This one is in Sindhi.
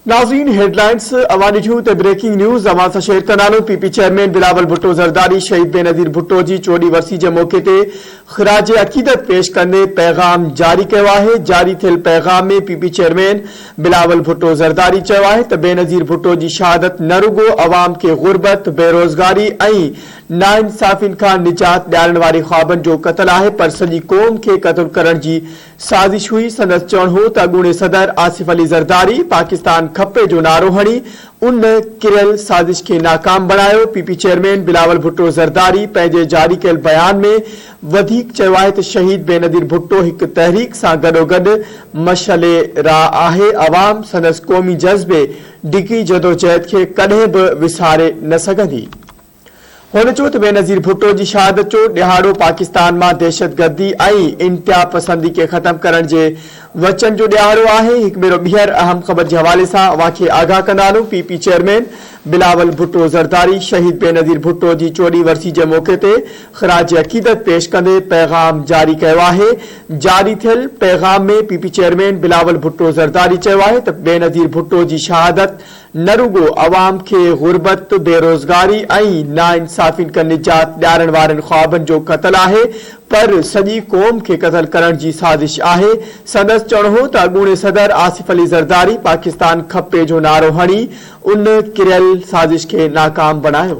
ناظرين هيڊلائنز اوهان ڏٺيون ته بريڪنگ نيوز اوهان سان شيئر ڪندا نو P P chairman Bilawal Bhutto Zardari شهيد بينظير ڀٽو جي چوڏهين ورسي جي موقعي تي خراج عقيدت پيش ڪندي پيغام جاري ڪيو آهي جاري ٿيل پيغام ۾ P P chairman Bilawal Bhutto Zardari چيو آهي ته بينظير ڀٽو جي شهادت نه رڳو عوام کي غربت بيروزگاري ۽ ناانصافين کان نجات ڏيارڻ واري خوابن جو قتل آهي پر سڄي قوم کي قتل ڪرڻ جي سازش هئي، سندس چوڻ هو ته اڳوڻي صدر آصف علي زرداري پاڪستان کپي جو نعرو هڻي ان ڪريل سازش کي ناڪام بڻايو، P P chairman Bilawal Bhutto Zardari پنهنجي جاري ڪيل بيان ۾ وڌيڪ چيو آهي ته شهيد بينظير ڀٽو هڪ تحريڪ سان گڏوگڏ مشعل راء آهي، عوام سندس قومي جذبي ڊگهي جدوجهد کي ڪڏهن به وساري نه سگهندي. هن چيو ته بينظير ڀٽو جي شهادت جو ڏهاڙو پاڪستان مان دهشتگردي ۽ انتهاپسندي کي ختم ڪرڻ جي وچن جو ڏهاڙو آهي، هڪ ڀيرو ٻيهر اهم خبر جي حوالي سان اوهان کي آگاهه ڪندا هلون، P P chairman Bilawal Bhutto Zardari شهيد بينظير ڀٽو جي چوڏهين ورسي جي موقعي تي خراج عقيدت پيش ڪندي پيغام جاري ڪيو آهي، جاري ٿيل پيغام ۾ P P chairman Bilawal Bhutto Zardari چيو آهي ته بينظير ڀٽو جي شهادت نه رڳو عوام کي غربت، بيروزگاري ۽ ناانصافين کان نجات ڏيارڻ وارن خوابن جو قتل آهي پر سڄي قوم کي قتل ڪرڻ جي سازش آهي. سندس چوڻ هو ته اڳوڻي صدر آصف علي زرداري پاڪستان کپي جو نعرو هڻي ان ڪريل سازش کي ناڪام بڻايو.